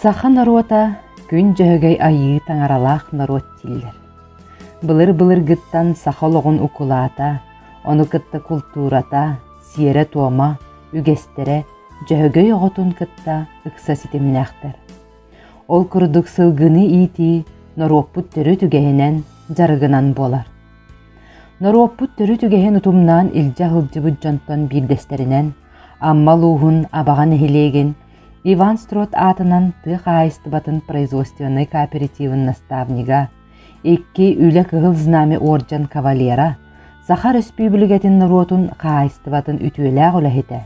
Саха норуота күн дьөһөгөй айыы таҥаралаах норуот тиллэр. Былыр-былыргыттан саха олоҕун укулаата, ону кытта култуурата, сиэрэ-туома, үгэстэрэ Дьөһөгөй оҕотун кытта ыкса ситимнээхтэр. Ол курдук сылгыны иитии норуоппут төрүт үгэһинэн, дьарыгынан буолар. Норуоппут төрүт үгэһин утумнаан илдьэ сылдьыбыт дьонтон биирдэстэринэн Амма улууһун Абаҕа нэһилиэгин Иван Строт аатынан тыа хаһаайыстыбатын производственнай кооперативын наставнига, икки Үлэ Кыһыл Знамя орден кавалера, Саха Өрөспүүбүлүкэтин норуотун хаһаайыстыбатын үтүөлээх үлэһитэ,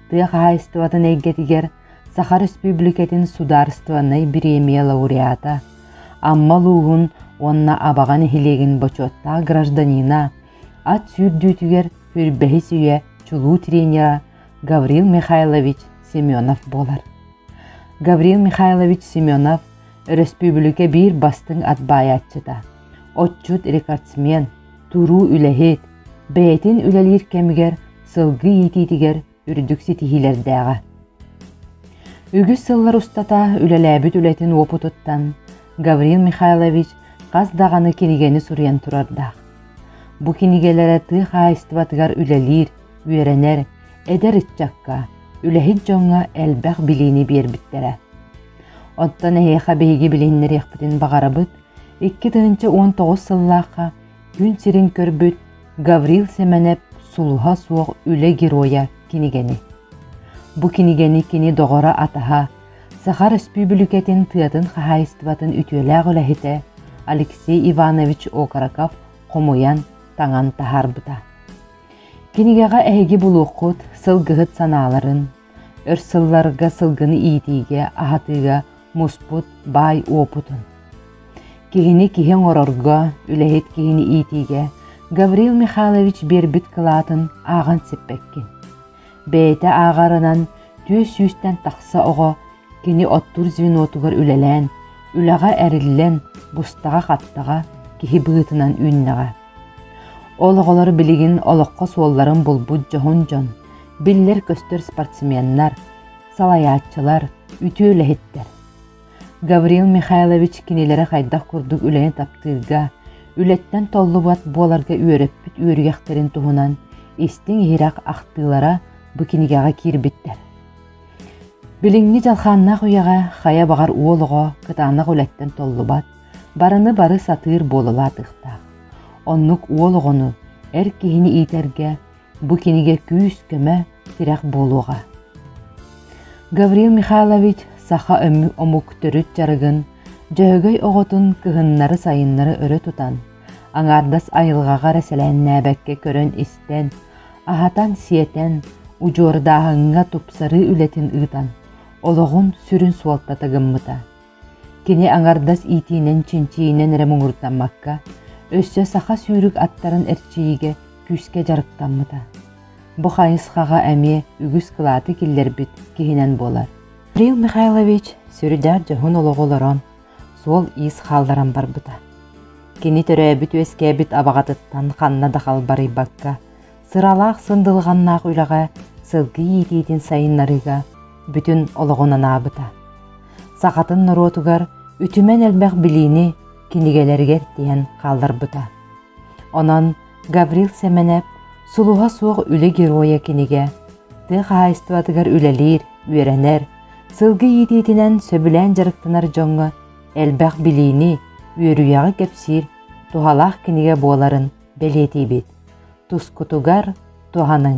тыа хаһаайыстыбатын эйгэтигэр Саха Республикатын Судаарыстыбаннай бириэмийэ лауреата, Амма улууһун уонна Абаҕа нэһилиэгин бочуоттаах гражданина, ат сүүрдүүтүгэр сүрбэһис үйэ чулуу тренера Гаврил Михайлович Семенов буолар. Гаврил Михайлович Семенов өрөспүүбүлүкэ биир бастыҥ ат баайааччыта, отчут рекордсмен, туруу үлэһит, бэйэтин үлэлиир кэмигэр сылгы иитиитигэр үрдүк ситиһиилэрдээҕэ. Үгүс сыллар устата үлэлээбит үлэтин уопутуттан Гаврил Михайлович хас даҕаны кинигэни суруйан турардаах. Бу кинигэлэрэ тыа хаһаайыстыбатыгар үлэлиир, үөрэнэр, эдэр ыччакка, үлэһит дьоҥҥо элбэх билиини биэрбиттэрэ. Оттон эһиэхэ биһиги билиһиннэриэхпитин баҕарабыт, икки тыһыынча уон тоҕус сыллаахха күн сирин көрбүт Гаврил Семенов сулуһа суох үлэ геройа кинигэни. Бу кинигэни кини доҕоро атаһа, Саха Республикатын тыатын хаһаайыстыбатын үтүөлээх үлэһитэ Алексей Иванович Окороков хомуйан, таҥан таһарбыта. Кинигэҕэ эһиги булуоххут, сылгыһыт санааларын, Өр сылларга сылгыны иитиигэ, аһатыыга муспут баай уопутун. Киһини киһи оҥорорго, үлэһит киһини иитиигэ Гаврил Михайлович биэрбит кылаатын ааҕан сиппэккин. Бэйэтэ ааҕарынан түөс сүүстэн тахса оҕо кини оттуур звенотугар үлэлээн, үлэҕэ эриллэн, бустаҕа-хаттаҕа киһи быһыытынан үүннэҕэ. Ол оҕолор билигин олоххо суолларын булбут дьоһун дьон, биллэр-көстөр спортсменнар, салайааччылар, үтүө үлэһиттэр. Гаврил Михайлович кинилэри хайдах курдук үлэни таптыырга, үлэттэн толлубат буоларга үөрэппит үөрүйэхтэрин туһунан истиҥ-иһирэх ахтыылара бу кинигэҕэ киирбиттэр. Билиҥҥи дьалхааннаах үйэҕэ хайа баҕар уол оҕо кытаанах үлэттэн толлубат, барыны-бары сатыыр буолалаа атыахтаах. Оннук уол оҕону, эр киһини иитэргэ бу кинигэ күүс-көмө, тирэх буолуоҕа. Гаврил Михайлович саха омук төрүт дьарыгын, Дьөһөгөй оҕотун кыһыннары-сайыннары өрө тутан, аҥаардас айылҕаҕа эрэ сэлээннээбэккэ көрөн-истэн, аһатан-сиэтэн, удьуордааһыҥҥа тупсарыы үлэтин ыытан, олоҕун сүрүн суолтата гыммыта. Кини аҥардас иитиинэн-чинчийинэн эрэ муҥурдаммакка, өссө саха сүүрүк аттарын эрчийиигэ күүскэ дьарыктаммыта. Бу хайысхаҕа эмиэ үгүс кылааты киллэрбит киһинэн буолар. Кирилл Михайлович сүрүнээн дьоһун олоҕу олорон, суол-иис хаалларан барбыта. Кини төрөөбүт-үөскээбит абаҕатыттан ханна да халбарыйбакка, сыралаах сындылҕаннаах үлэҕэ сылгы иитиитин сайыннарыыга бүтүн олоҕун анаабыта. Сахатын норуотугар үтүмэн элбэх билиини кинигэлэригэр тиһэн хаалларбыта. Онон Гаврил Семенев сулуһа суох үлэ геройа кинигэ тыа хаһаайыстыбатыгар үлэлиир, үөрэнэр, сылгы иитиитинэн сөбүлээн дьарыктанар дьоҥҥо элбэх билиини, үөрүйэҕи кэпсиир туһалаах кинигэ буоларын бэлиэтиибит тускутугар туһаныҥ